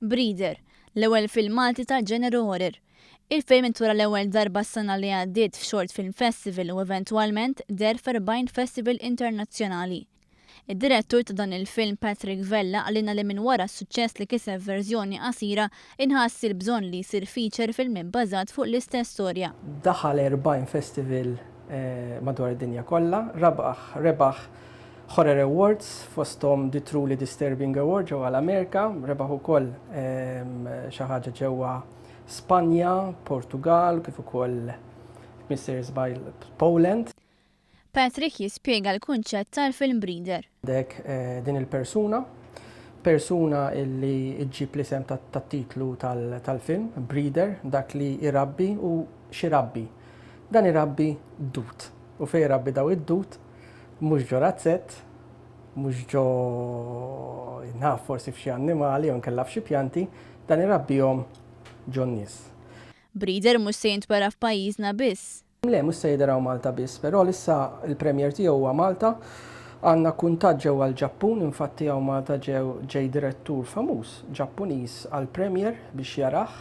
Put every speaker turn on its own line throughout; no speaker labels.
Breeder, l-ewwel film Malti tal-ġeneru horror. Il-film intura l-ewwel darba s-sena li għaddiet f'Short Film Festival u eventwalment deher f'erbgħin festival internazzjonali. Id-direttur ta' dan il-film Patrick Vella qalilna li minn wara s-suċċess li kiseb f'verżjoni qasira, inħass il-bżonn li jsir feature film ibbażat fuq l-istess storja. Daħal erbgħin
festival madwar id-dinja kollha, rebaħ Horror Awards, fosthom The Truly Disturbing Award ġewwa l-Amerika, rebaħ ukoll xi ħaġa ġewwa Spanja, Portugal, kif ukoll Mister Żbajl Poland. Patrick
jispjega l-kunċett tal-film breeder. Għandek
din il-persuna, persuna li ġġib l-isem tat-titlu tal-film, breeder, dak li jrabbi u x'irabbi. Dan irabbi dud u fejn irabbi dawn id-dud, Mhux ġo razzett, mhux ġo naf forsi f'xi annimali jew inkella f'xi pjanti, dan irabbihom ġo n-nies. Breeder
mhux se jintwera f'pajjiżna biss. Le, mhux se jidher hawn
Malta biss. Però l-issa l-premier tiegħu huwa Malta. Għandna kuntatt ġewwa l-Ġappun, infatti hawn Malta ġew ġej direttur famuż Ġappuniż għall-premier biex jarah.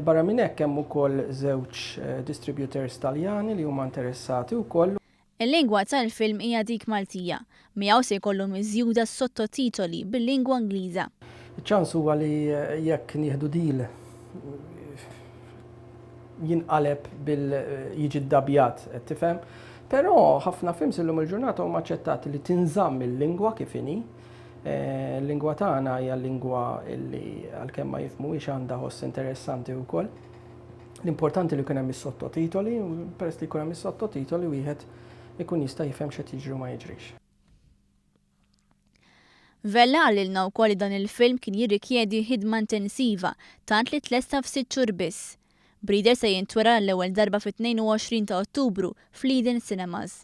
Barra minn hekk hemm ukoll żewġ distributors Taljani li huma interessati wkoll. Il-lingwa
tal-film hija dik Maltija. Miegħu se jkollu miżjuda s-sottotitoli bil-lingwa Ingliża. Iċ-ċans huwa
li jekk nieħdu deal jinqaleb bil jiġi ddabjat, qed tifhem? Però ħafna films illum il-ġurnata huma aċċettati li tinżamm il-lingwa kif inhi. Il-lingwa tagħna hija lingwa li għalkemm ma jifhmuhiex għandha ħoss interessanti wkoll. L-importanti li jkun hemm is-sottotitoli, peress li jkun hemm is-sottotitoli wieħed ikun jista' jifhem x'qed jiġri u ma jiġrix.
Vella qalilna wkoll li dan il-film kien jirrikjedi ħidma intensiva, tant li tlesta f'sitt xhur biss. Breeder se jintwera għall-ewwel darba fit-22 ta' Ottubru fl-Eden Cinemas.